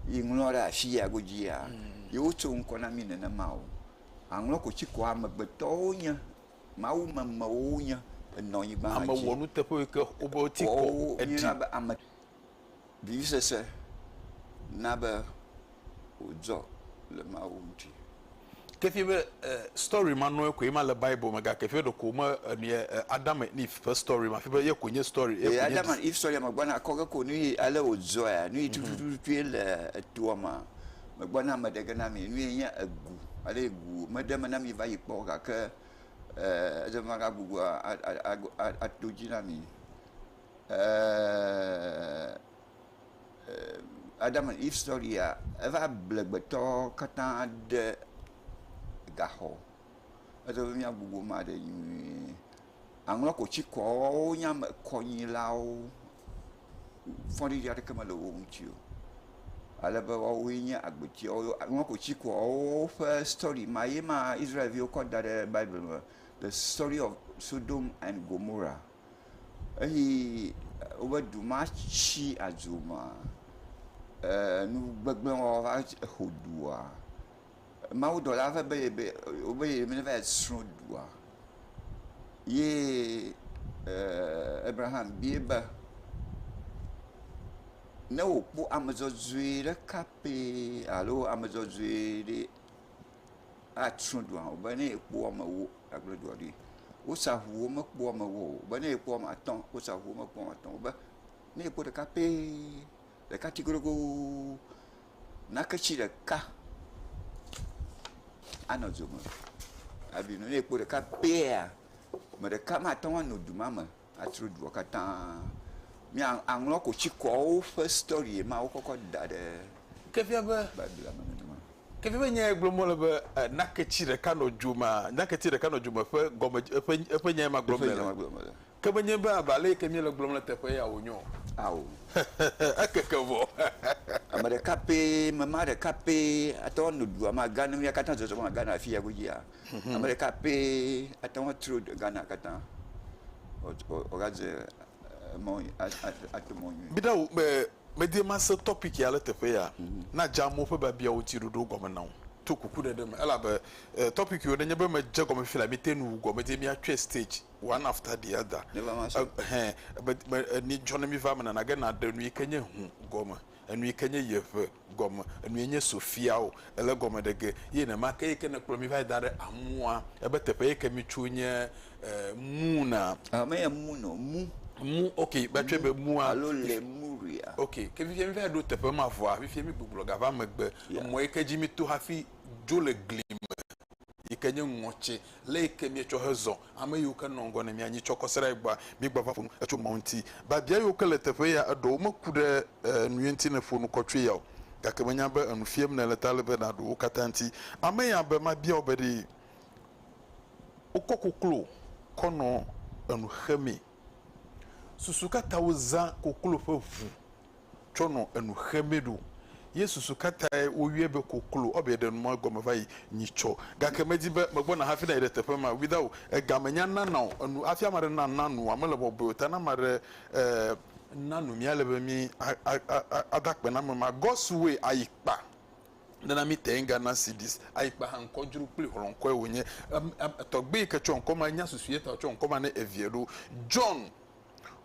yi ŋlɔ ɖe afi ya godzia, yewo tso ŋkɔ na mí nenema o. Aŋlɔkotsikua amegbetɔwo nye, Mawu memewo wonye, enɔ nyigba dzi. Ame wɔnuteƒewoe ke wobe wotikɔ eɖi. Woawo míeyɔna be ame. Vivisese na be wòdzɔ le Mawu ŋuti. Kefie be e story ma nɔe koe ma le bible me ga kefie ɖeko wome e nuye e Adam and Eve ƒe story ma fie be ye koe nye story ye koe nye e Adam and Eve story ma gbɔ na kɔ ge ko nuyi ale wo dzɔea nuyi mhm. tutututu ye le etoa ma me gbɔ na me ɖe ge na mi nuyi nye egu ale egu me ɖe me na mi va yi kpɔ ga ke e eze ma ga gbugbɔ a a a a a to dzi na mi. Adam and Eve sɔria eva ble amegbetɔ katã ɖe gaxɔ. Ele be mía gbugbɔ ame aɖe nyuie. Aŋɔ kotsi kɔ wo nye ame kɔnyilawo. Fɔɖiɖi aɖeke mele wo ŋuti o. Ale be woawoe nye agbetia wo. Aŋɔ kotsi kɔ wo ƒe sɔri ma ye ma Israel viwo kɔ da ɖe Bible me. The story of Sodom and Gomora. eyi wobe du ma tsi adzo ma, enu gbegblẽ wɔwɔ va xo dua. Mawudɔla va be ye be wobe ye va yi tsrɔ̃ dua ye Abraham biae be, ne wòkpɔ ame dzɔdzɔe ɖeka pɛ alo ame dzɔdzɔe ɖe. atsrɔ̃ dua o be ne ekpɔ amewo agblẽ dua ɖi. Wosa ŋuwo mekpɔ amewo o be ne ekpɔ ame atɔ̃ wosa ŋuwo mekpɔ ame atɔ̃ o be ne ekpɔ ɖeka pɛ ɖeka ti godogoo naketi ɖeka anɔ dzo me. Hafi ne ekpɔ ɖeka pɛa ame ɖeka mate ŋu anɔ du ma me o. Atsro dua katã. Mía aŋlɔ kotsikɔwo ƒe story ma wo kɔkɔ da ɖe Biblia me nenema. Ke fia be nya ye gblɔm wole be naketsi ɖeka nɔ dzo mea, naketsi ɖeka nɔ dzo me ƒe gɔme eƒe eƒe nya ye ma gblɔm mele. Ke menye be abe ale yi ke míele gblɔm le teƒe ya wonye o. Ao. Ekeke vɔ. Ame ɖeka pɛ, mema ɖeka pɛ ate ŋu ano dua me aga ne mía katã zɔzɔm age ɖe afi ya godzia? Ame ɖeka pɛ ate ŋu atso Ghana katã wòadze mɔ ato mɔ nyuie. Be ɖa wò be medi be mase tɔpiki ya ɖe teƒe ya na dze amewo ƒe biabiawo ŋuti ɖoɖo gɔme na wò to kuku ɖe ɖe me elabe tɔpiki wò nenye be medze egɔme fila mete nu wu gɔ medi be miatsɔe stage one after the other ehɛn ebe eni dzɔ ne miva eme nana ge naɖe nu yike nye hu gɔme enu yi ke nye yeƒe gɔme, enu ye nye Sofia o, ele egɔme ɖe ge, ye nenema ke yi ke nekplɔ mi va yi da ɖe amua, ebe teƒe yi ke mi tso nye Muna. Ɔ, menye Mun o, Mu. Mu, ok, va tsɔe be Mua. Alo Lemuria. Ok, ke fifia mi va yi ɖo teƒe ma vɔa, fifia mi gbugbɔ gava megbe, emɔ yi ke dzi mi to hafi dzo le gli me. yi ke nye ŋɔtsi, lé yi ke míetsɔ hezɔ, ame yiwo ke nɔ ŋgɔ na mí anyi tsɔ kɔ se ɖe egbɔa, míegba va ƒo nu tso Mawu ŋuti. Biabia yiwo ke le teƒe ya, eɖewo meku ɖe enu ye ŋuti ne èƒo nu kɔ tsoe ya o, gake menya be enu fiam nèle ta ele be nàɖo wo katã ŋuti. Ame ya be, Mabia wò be ɖe wokɔ koklo kɔ nɔ enu xemee? Susu ka ta wozã koklo ƒe ʋu tsɔ nɔ enu xemɛ ɖo. Ye susu kataɛ wo yɔɛ be koklo. Ɔ be ɖe nu ma egɔme vayi nyi tsɔ. Gake me di be me gbɔ na hafi na yi ɖe teƒe ma. Wida o, ega me nya na nao enu hafi ame aɖe na na nua mele bɔbɔɛ o ta na ame aɖe eh na nu mía le be mí a a a a da kpe na ame ma. Gɔsu woe ayi kpa ne na mí tɛ ŋga na sidis ayi kpa ha ŋkɔ dzro kpli hlɔ ŋkɔɛ wo nye. Em em tɔgbe yi ke tsɔ ŋkɔ ma nya susu ye ta o tsɔ ŋkɔ ma ne eviɛ ɖo. John.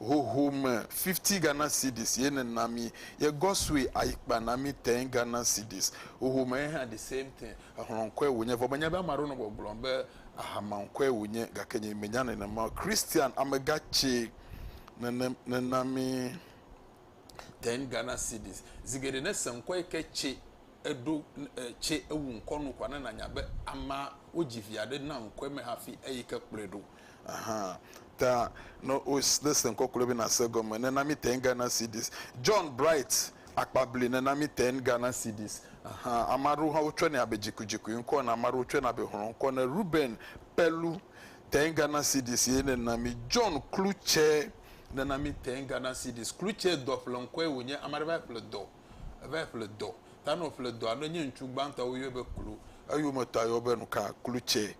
hoho me fifty Ghana cedis ye ne na mi ye gɔsue ayi kpa na mi ten Ghana cedis hoho me hã the same thing exlɔ ŋkɔe wonye vɔ me nya be ame aɖewo nɔ gbɔgblɔ be ahama ŋkɔe wonye gake nye me nya nenema o Christian amega tse nenem ne na mi ten Ghana cedis zi geɖe ne se ŋkɔ yike tse. eɖo e tse ewu ŋkɔ nu kɔa ne nanya be amea wodzi vi aɖe na ŋkɔe me hafi eyi ke kplɔe ɖo. Ahan. Ta ne wos ne se ŋkɔ kloe be nase egɔme nena mi ten Ghana cedis. John Bright akpabli nena mi ten Ghana cedis. Ahan. Ame aɖewo hã wotsɔe nɛ abe dzikudzikui ŋkɔ ene. Ame aɖewo tsɔe na be hlɔ̃ ŋkɔ ene. Reuben Pelu ten Ghana cedis ye nena mi. John Klutsɛ nena mi ten Ghana cedis. Klutsɛ dɔƒleŋkɔe wònye. Ame aɖe va yi ƒle dɔ. Evae ƒle dɔ. Ta nɔ ƒle dɔa ne nye ŋutsu gbãtɔ wo yɔɛ be klu. Eyome ta yɔ be nuka? Klu tsɛ.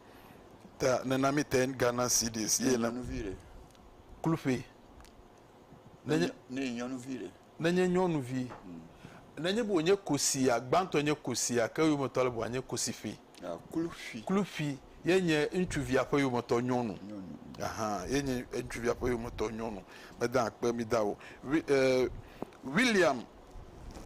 Ta nena mi ten Ghana cedis ye le. Nyɔnuvi ɖe. Klu ƒe. Ne nye. Ne nye nyɔnuvi ɖe. Ne nye nyɔnuvi. Ne nye be wonye kosia, gbãtɔ nye kosia ke eyome tɔ le be wòanye kosi ƒe. Klufi ye nye ŋutsuvia ƒe yometɔ nyɔnu. Ye nye ŋutsuvia ƒe yometɔ nyɔnu. Meda akpe mi da o. William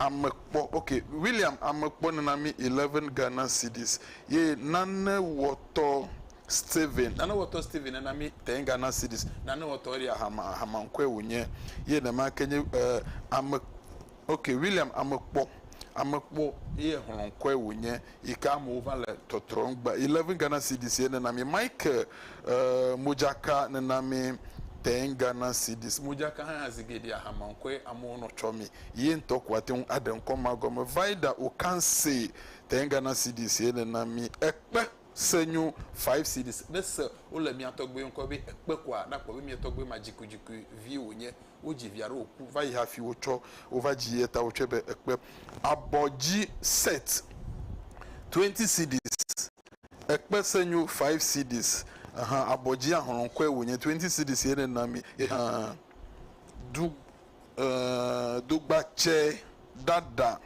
amekpɔ, ok, William amekpɔ nana mi eleven Ghana cedis ye nanewɔtɔ Stephen, nanewɔtɔ Stephen nana mi ten Ghana cedis. Nanewɔtɔ Eria Hama, Hama ŋkɔe wònye ye nema ke nye ame, Ok William amekpɔ amekpɔ ye xlɔnkɔe wo nye yike amewo va le tɔtrɔm gba eleven Ghana cedis ye nena mi Michael eeh modzaka nena mi ten Ghana cedis modzaka hã ya zi geɖea hamaŋkɔe amewo nɔ tsɔ mi ye ŋtɔ ko ate ŋu aɖe ŋkɔ ma gɔme Vida Okanse ten Ghana cedis ye nena mi Ekpe Senyo five cedis ne se wo le mia tɔgbe ŋkɔ be ekpe koa na kpɔ be mia tɔgbe ma dzikudzikui vi wo nye Wodzi via ɖe wòku va yi hafi wotsɔ wova dzi eya ta wotsɔe be ekpe abɔ dzi set 20 cedis, ekpe senyo 5 cedis ahan abɔ dzi ahlɔ̃kɔe wònye 20 cedis ye nena mi ye hã du eeee dogbatsɛ ɖaɖa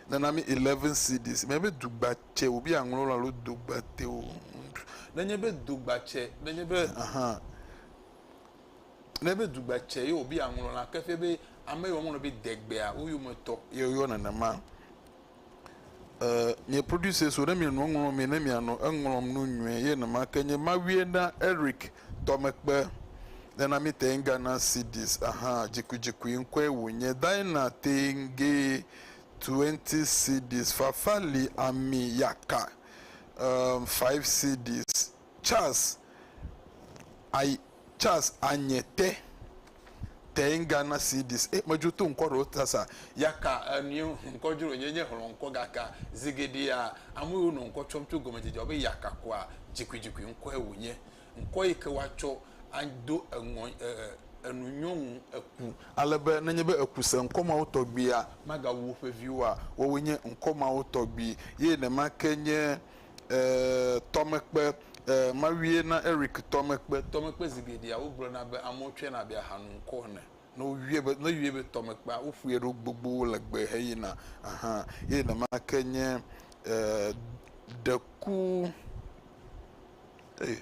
nena mi 11 cedis menye be dugbatsɛ wòbi aŋlɔ lo alo dogbatɛ o nenye be dogbatsɛ nenye be ahan. ne be dugba tsɛ ye wòbe yeaŋlɔ la ke ƒe be ame yi woaŋlɔ be degbea wo yometɔ ye woyɔ nenema. Ee, mi producers wo ne miele nua ŋlɔm me ne mianɔ eŋlɔm nu nyuie ye nema ke nye Mawiena Eric Tɔmekpe, nena mi teŋ Ghana Cedis, aha, dzikudzikui ŋkɔe wònye, Daina Teŋge, twenty Cedis, Fafali Ami Yaka, ee, five Cedis. Charles ay Charles Anye te teŋ gana CDs e medzo to ŋkɔ ɖewo ta sa yaka enu ŋkɔ dzro nye nye hlɔ ŋkɔ gaka zigeɖea amu yiwo nɔ ŋkɔ tsɔm tso gɔmedzedzea be yaka koa dzikuidzikui ŋkɔe wonye ŋkɔ yi ke woatsɔ ado eŋɔ e enu nyɔnu eku ale be nenye be eku se ŋkɔ mawo tɔgbia magawu woƒe viwoa woawoe nye ŋkɔ mawo tɔgbi ye nemake nye. Ee, tɔmekpe. Ee, Mawue na Eric tɔmekpe. Tɔmekpe zi geɖea wogblɔna be amewo tsɔe na abe ahanu ŋkɔ ene. Ne woyɔe be, ne woyɔe be tɔmekpea, woƒoe ɖo gbogbo legbe heyina. Aha. Eye nenema ke nye, ee, deku. Ee.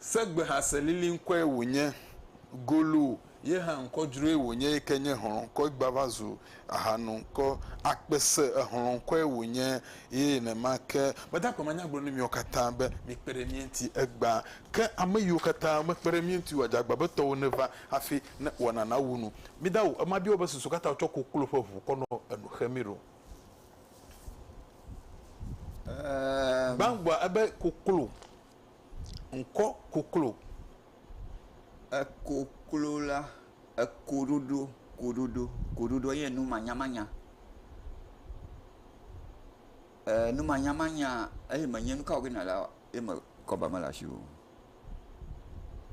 Segbehase liliŋkɔe wònye. Golo ye hã ŋkɔdzroe wònye yi ke nye hlɔ̃kɔe gbava zu ahanoŋkɔ. Akpese ehlɔ̃kɔe wònye ye nenema ke. Meda akpe manya gblɔ na miwo katã be mikpe ɖe mía ŋuti egbea. Ke ame yiwo katã mekpe ɖe mía ŋuti oa, dze agba be tɔwò neva hafi ne wɔna nawu nu. Mida o, ema bia wò be susu ka ta wotsɔ koklo ƒe ʋu kɔ nɔ enu xem ɖo. Gbãgbua ebe koklo, ŋkɔ koklo. Ekoklo la, ekoɖoɖo, koɖoɖo, koɖoɖo ye nu manyamanya. Eee nu manyamanya eye menye nu ka wòge nɔ la ye me kɔba mele asiwò o.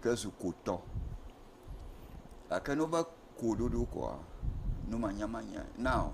Ke zu kotɔ. Gake ne wobɔ koɖoɖo koa, nu manyamanyae. Now.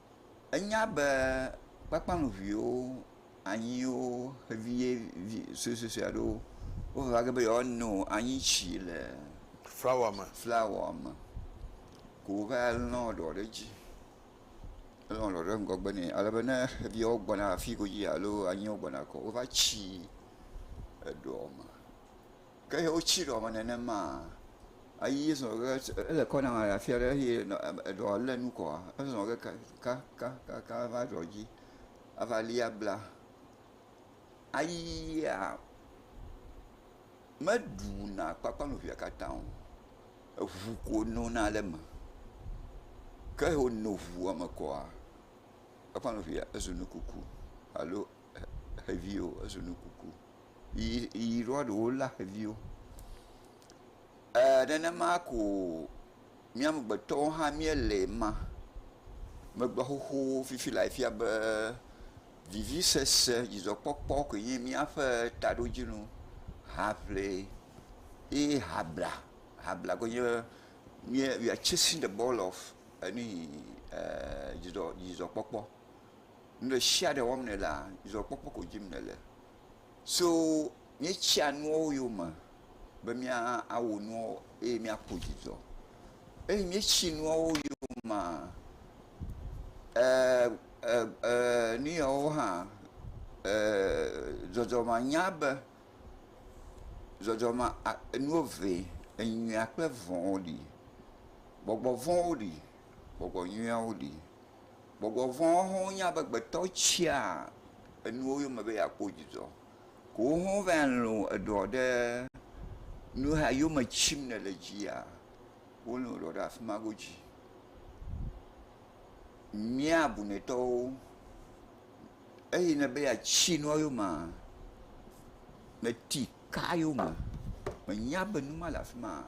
Enya be kpakpanuviwo, anyiwo xeviye vi suesuesue aɖewo wova ge be yewoano anyi tsi le flawa me flawa me ko wova lɔ ɖewo ɖe edzi. Elɔ ɖewo ɖe ŋgɔgbe nɛ ale be ne xeviwo gbɔna afi godzia alo anyiwo gbɔna kɔ wova tsi eɖewo me. ke ye wotsi ɖɔ me nenema eyi zɔ ge ele kɔ na le afi aɖe eye eɖɔ le nu kɔa ezɔ ge kakakaka va ɖɔ dzi ava li abla ayia meɖu na kpakple nu ʋia katã o eŋu ko nona le eme ke he wono ŋua me kɔa kpakple nu ʋia ezu nu kuku alo xevi o ezu nu kuku. yi ɖoa ɖewo lé xeviwo. Ɛɛ nenema ko mía amegbetɔwo hã míele ma. Megbe xoxo fifi le afia be vivisese, dzidzɔkpɔkpɔ koe nye míaƒe taɖodzinu. Haŋli ye habla, habla koe nye míe, we are chasing the ball of ɛɛ nuyi ɛɛ dzidzɔ, dzidzɔkpɔkpɔ. Nu ɖe sia ɖe wɔm nèlea, dzidzɔkpɔkpɔ ko dim nèle. So míetsia nuawo yome be míawɔ nuawo eye míakpɔ dzidzɔ. Eye míetsi nuawo yomea, ee, ee, ee, nu yawo hã, ee, dzɔdzɔmea nya be, dzɔdzɔmea a, nuwo eve, enyuia kple evɔ̃wo li. Gbɔgbɔ vɔ̃wo li, gbɔgbɔ nyuiawo li. Gbɔgbɔ vɔ̃ hã nye amegbetɔ tsia enuwo yome be yeakpɔ dzidzɔ. Ke wo hã va lũ eɖɔ ɖe nu ya yome tsim nèle dzia, wolũ eɖɔ ɖe afi ma godzi. Mía bunɛtɔwo, eyi ne be yeatsi nua yomea, mèti kaa yome, mènya be nu ma le afi ma o.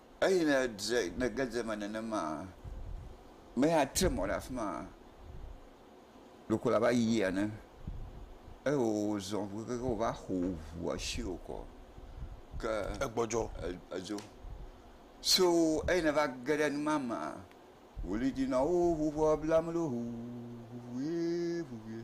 Eyi ne dze ne ge dze eme nenema me ya tre mɔ ɖe afi ma ɖeko la va yi ene eye wo zɔ ŋu keke wo va xo ŋua shi wo kɔ ke egbɔdzɔ e- edzo. So eyi ne va ge ɖe nu ma me wòli dzi na wo ŋu ŋua bla me ɖo ŋu ŋu ŋu ʋuie ŋu ʋuie.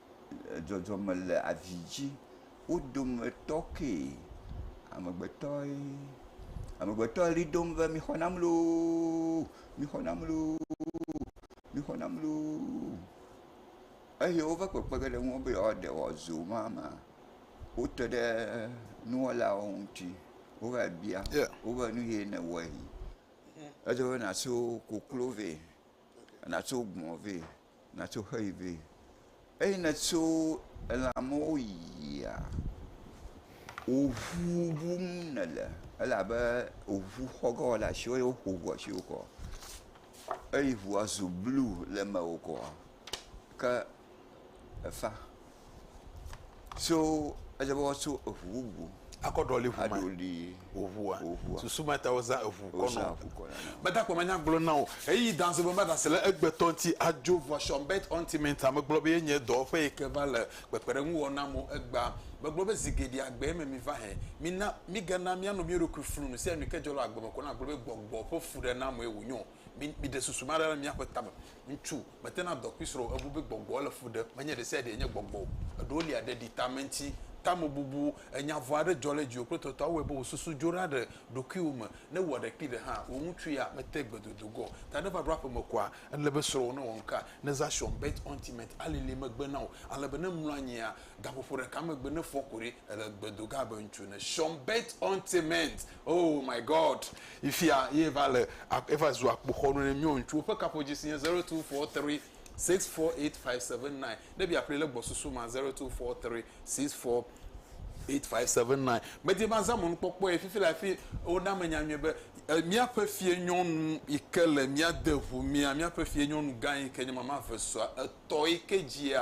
dzɔdzɔme le avi dzi. Wo dometɔ ke amegbetɔe, amegbetɔ ʋli dom be mixɔ nam looo, mixɔ nam looo, mixɔ nam looo eye woƒe kpekpeɖeŋu le eŋu be yewoaɖe wòazu mama ma, wote ɖe nuwɔlawo ŋuti wova bia wo be nu ye nèwɔe. Edze be nàtso koklo vɛ, nàtso gbɔ̃ vɛ. Natso xe yi vɛ. Eyi netso elã mawo yia, wò ŋu ŋum nèle elabe wò ŋu xɔ ge wole asiwò eye woƒo ŋua asi wò kɔ. Eyi ŋua zu blu le mewò kɔ ke efã. So edze be woatso eŋu bubu. Akɔ ɖɔli ŋu ma. Aɖoli. Ŋua. Ŋua. Susu ma ta wozã eŋu kɔ nɔ. Meda kpɔ manya gblɔ na wò. Eyi danzɔ be ma ɖase le egbetɔ ŋuti adzo ŋua Schonberg Ontiment a. Megblɔ be ye nye dɔwɔƒe yi ke va le kpekpeɖeŋu wɔm na amewo egbea. Megblɔ be zi geɖe agbe me mi va he. Mina migana mia nɔ mia ɖokui flu nu sia nu yi ke dzɔ le agbe me kɔ na gblɔ be gbɔgbɔ ƒe fu ɖe na amewo wonyo. Mi miɖe susu ma ɖa le miaƒe tame. Ŋutsu. Metena dɔ kpli srɔ̃wò. Ebu be gbɔgbɔ le fu ɖem. Menye ɖesiaɖee nye gbɔgbɔ o. Eɖewo lia ɖeɖi, tameŋti, tamebubu, enya vɔ̃ aɖe dzɔ ɖe dziwò kple tɔtɔa awɔe be wò susu dzo ɖa ɖe ɖokuiwò me. Ne ewɔ ɖe kpli ɖe hã, wò ŋutsu ya mete gbe dodo ge o. Ta ne eva ɖo aƒeme koa, ele be srɔ̃wò newɔ nuka? Ne Zashon, Bet Ontimet, alilii megbe na wò, ale be ne emlɔ anyia, gaƒoƒo ɖeka megbe, ne efɔ ku ɖi, ele gbe do ge abe ŋutsu ene. Shon, Bet Ontimet, Oh my God! Yi fia ye va le eva zu akpoxɔnu ne miɔ ŋutsuwo ƒe kaƒodzi si nye zero two four three six four eight five seven nine. Ne bia ƒli le gbɔsusu ma zero two four three six four eight five seven nine. Medi ma zã mɔnu kpɔkpɔ ye fifi la fi wona me nya nyuie be eh, míaƒe fie nyɔnu yi ke le mía de ʋu mía míaƒe fie nyɔnu gã yi ke nye mama vesua etɔ yi ke dzia